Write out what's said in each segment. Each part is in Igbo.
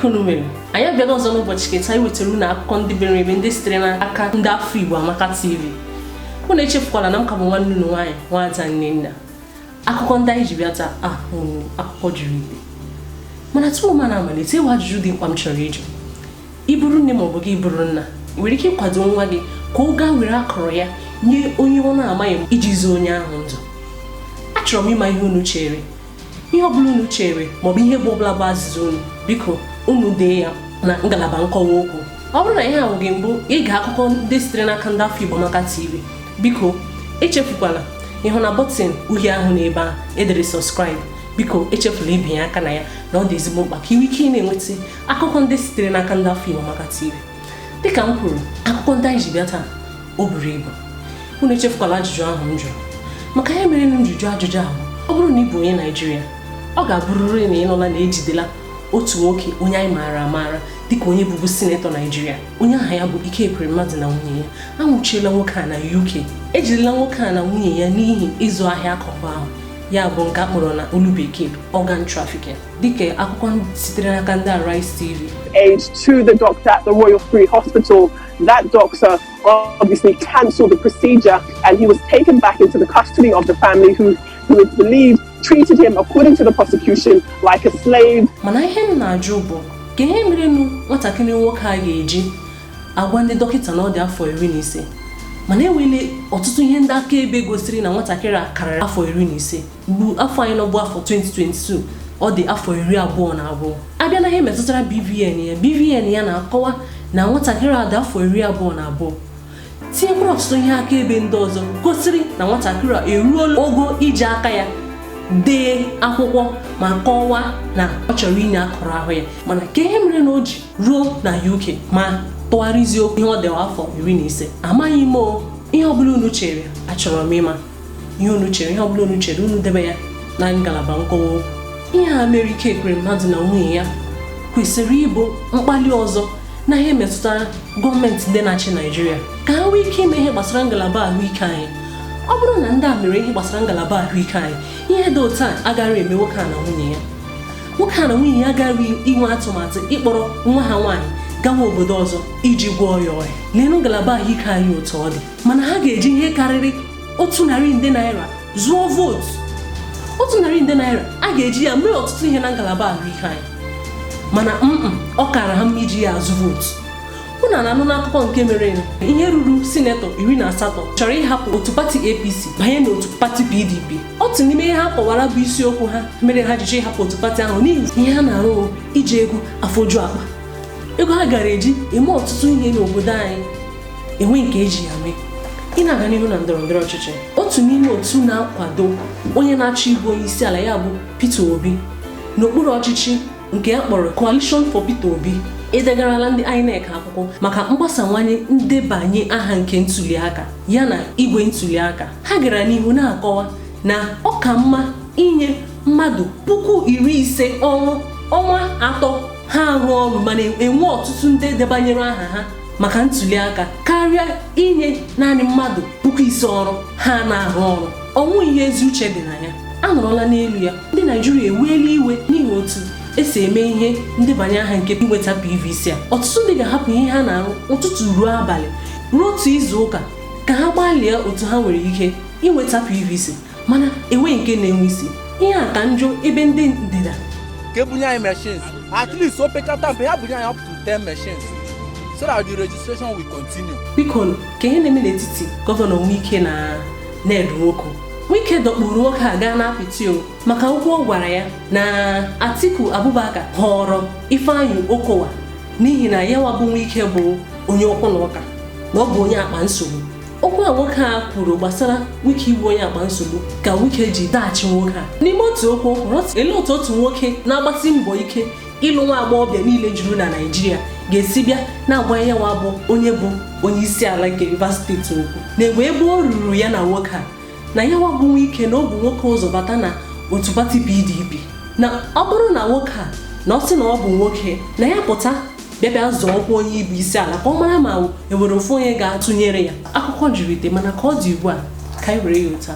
unu mere anyị abịala ọzọ n'ụbọchị ke taa iwetara unu akụkọ ndị buru ibu ndị sitere n'aka ndị afọ Igbo Amaka TV unu echefukwala na m ka bụ nwanne unu nwaanyị nwaada Nnenna akụkọ ndị anyị ji bịa taa bụ akụkọ buru ibu mana tupu m na-amalite enwere ajụjụ dị mkpa m chọrọ ịjụ ị bụrụ nne maọbụ gị bụrụ nna ị nwere ike ịkwado nwa gị ka ọ gaa were akụrụ ya nye onye ọ na-amaghị iji zọọ onye ahụ ndụ achọrọ m ịma ihe unu chere ihe ọbụla unu chere maọbụ ihe bụ ọbụla bụ azịza unu biko unu dee ya na ngalaba nkọwa okwu ọ bụrụ na ihe a bụ gị mbụ ige akụkọ ndị sitere n'aka ndị afọ Igbo Amaka TV biko echefukwala ịhụ na bọtịn uhie ahụ na ebe a edere subscribe biko echefula ibinye aka na ya na ọ dị ezigbo mkpa ka i nwee ike na-enweta akụkọ ndị sitere n'aka ndị afọ Igbo Amaka TV dịka m kwuru akụkọ ndị anyị ji bịa taa o buru ibu unu echefukwala ajụjụ ahụ m jụrụ maka ihe mere m ji jụọ ajụjụ ahụ ọ bụrụ na ị bụ onye Naijiria ọ ga-abụrịrị na ị nụla na ejidela otu nwoke onye anyị maara amaara dịka onye bụbu sinetọ Naijiria onye aha ya bụ Ike Ekweremadu na nwunye ya anwụchiela nwoke a na UK ejirila nwoke a na nwunye ya n'ihi ịzụ ahịa akụkụ ahụ ya bụ nke akpọrọ na olu bekee organ trafficking dịka akụkọ sitere n'aka ndị Arise TV aid to the doctor at the Royal Free Hospital that doctor obviously cancelled the procedure and he was taken back into the custody of the family who who it's believed treated him, according to the prosecution, like a slave. mana ihe m na-ajụ bụ kee ihe merenụ nwatakịrị nwoke a ga-eji agwa ndị dọkịta na ọ dị afọ iri na ise mana enwele ọtụtụ ihe ndị akaebe gosiri na nwatakịrị a karịrị afọ iri na ise bụ afọ anyị nọ bụ afọ 2022 ọ dị afọ iri abụọ na abụọ abịa na ihe metụtara BVN ya BVN ya na-akọwa na nwatakịrị a dị afọ iri abụọ na abụọ tinyekwara ọtụtụ ihe akaebe ndị ọzọ gosiri na nwatakịrị a eruola ogo iji aka ya dee akwụkwọ ma kọwaa na ọ chọrọ inye akụrụ ahụ ya mana kee ihe mere na o ji ruo na UK ma tụgharịzie okwu ihe ọ dịwa afọ iri na ise amaghị m ihe ọ bụla unu chere achọrọ m ịma ihe unu chere ihe ọbụla unu chere unu debe ya na ngalaba nkọwa okwu ihe a mere Ike Ekweremadu na nwunye ya kwesịrị ịbụ mkpali ọzọ na ihe metụtara gọọmenti ndị na-achị naijiria ka ha nwee ike ime ihe gbasara ngalaba ahụike anyị ọ bụrụ na ndị a mere ihe gbasara ngalaba ahụike anyị ihe dị otu a agaghị eme nwoke a na nwunye ya nwoke a na nwunye ya agaghị inwe atụmatụ ịkpọrọ nwa ha nwaanyị gawa obodo ọzọ iji gwọọ ya ọrịa leenụ ngalaba ahụike anyị otu ọ dị mana ha ga-eji ihe karịrị otu narị nde naira zụọ vootu otu narị nde naira a ga-eji ya mee ọtụtụ ihe na ngalaba ahụike anyị mana ọ kara ha mma iji ya azụ vootu unu na-anụ n'akụkọ nke mere ihe ruru sinetọ iri na asatọ chọrọ ịhapụ otu pati apc banye n'otu pati pdp otu n'ime ihe ha kọwara bụ isiokwu ha mere ha jiji ịhapụ otu pati ahụ n'ihi ihe ha na-arụ iji ego afọju akpa ego ha gara eji eme ọtụtụ ihe n'obodo anyị enweghị nke eji ya mee ị na-aga n'ihu na ndọrọ ndọrọ ọchịchị otu n'ime otu na-akwado onye na-achọ ịbụ onye isi ala ya bụ Peter Obi n'okpuru ọchịchị nke a kpọrọ Coalition for Peter Obi edegarala ndị INEC akwụkwọ maka mgbasawanye ndebanye aha nke ntuliaka ya na igwe ntuliaka ha gara n'ihu na-akọwa na ọ ka mma inye mmadụ puku iri ise ọrụ ọnwa atọ ha arụ ọrụ ma na-enwe ọtụtụ ndị debanyere aha ha maka ntuli aka karịa inye naanị mmadụ puku ise ọrụ ha na-arụ ọrụ ọ wụ ihe ezi uche dị na ya anọrọla n'elu ya ndị naijiria eweela iwe n'ihi otu esi eme ihe ndebanye aha nke inweta pvc a ọtụtụ ndị ga-ahapụ ihe ha na-arụ ụtụtụ ruo abalị ruo otu izu ụka ka ha gbalịa otu ha nwere ike inweta pvc mana enweghị nke na-enwe isi ihe a ka njọ ebe ndị ndịda ka ebunye anyị machines at least opekata mpe ha bunye anyị up to 10 machines so that the registration will continue. biko ka ihe na-eme n'etiti gọvanọ Wike na Ned Nwoko Wike dọkpụrụ nwoke a gaa n'apịtị o maka okwu ọ gwara ya na Atiku Abubakar họrọ Ifeanyi Okowa n'ihi na ya nwa bụ Wike bụ onye okwu na ụka na ọ bụ onye akpa nsogbu okwu a nwoke a kwuru gbasara wike ịwụ onye akpa nsogbu ka wike ji zaghachi nwoke a n'ime otu okwu o kwuru ele otu otu nwoke na-agbasi mbọ ike ịlụ nwa agbọghọbịa niile juru na naijiria ga-esi bịa na-agwa ya nwa bụ onye bụ onye isi ala nke Rivers steeti okwu na egbe ebe o ruru ya na nwoke a na ya nwa bụ wike na o bu nwoke ụzọ bata na otu pati PDP na ọ bụrụ na nwoke a na ọ sị na ọ bụ nwoke na ya pụta bịa bịa zọọ ọkwa onye ịbụ isi ala ka ọ mara ma enwere ofu onye ga-atụnyere ya akụkọ juru ite mana ka ọ dị ugbu a ka anyị were ya otu a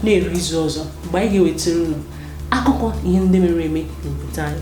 na-eru izu ọzọ mgbe anyị ga-ewetara unu akụkọ ihe ndị mere eme n'obodo anyị